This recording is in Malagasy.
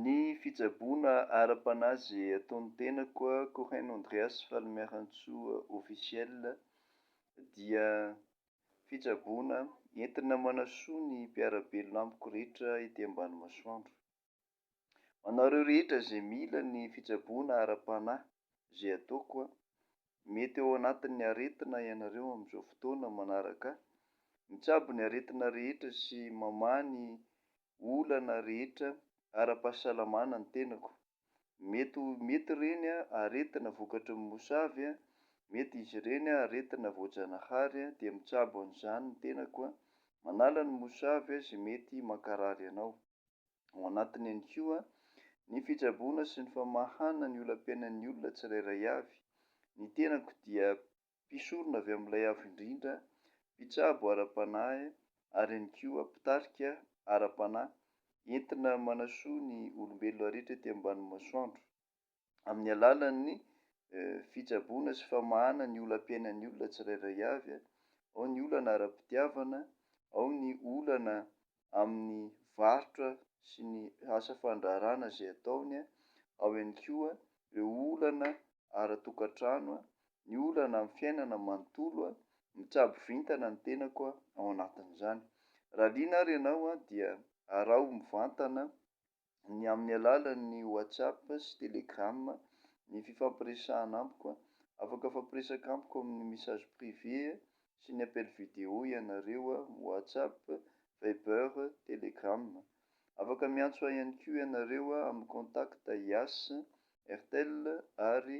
Ny fitsaboana ara-panahy izay ataon'ny tenako Cohen Andreas Falimiarantsoa Officiel dia fitsaboana entina manasoa ny mpiara-belona amiko rehetra ety ambany masoandro. Ho anareo rehetra izay mila ny fitsaboana ara-panahy izay ataoko, mety ao anatin'ny aretina ianareo amin'izao fotoana manaraka, mitsabo ny aretina rehetra sy mamaha ny olana rehetra ara-pahasalamana ny tenako. Mety ho mety ireny aretina vokatry ny mosavy, mety izy ireny aretina voajanahary dia mitsabo an'izany ny tenako. Manala ny mosavy izay mety mankarary anao. Ao anatiny ihany koa ny fitsaboana sy ny famahana ny olam-piainan'ny olona tsirairay avy. Ny tenako dia mpisorona avy amin'Ilay Avo Indrindra, mpitsabo ara-panahy, ary ihany koa mpitarika ara-panahy, entina manasoa ny olombelona rehetra ety ambanin'ny masoandro, amin'ny alalan'ny fitsaboana sy famahana ny olam-piainan'ny olona tsirairay avy, ao ny olana ara-pitiavana, ao ny olana amin'ny varotra sy ny asa fandraharahana izay ataony, ao ihany koa ireo olana ara-tokantrano, ny olana amin'ny fiainana manontolo, mitsabo vintana ny tenako ao anatin'izany. Raha liana ary ianao dia araho mivantana ny amin'ny alalan'ny WhatsApp sy Telegram, ny fifampiresahana amiko, afaka mifampiresaka amiko amin'ny message privé sy ny appel vidéo ianareo, WhatsApp, Viber, Telegram. Afaka miantso ahy ihany koa ianareo amin'ny contact IAS, Airtel ary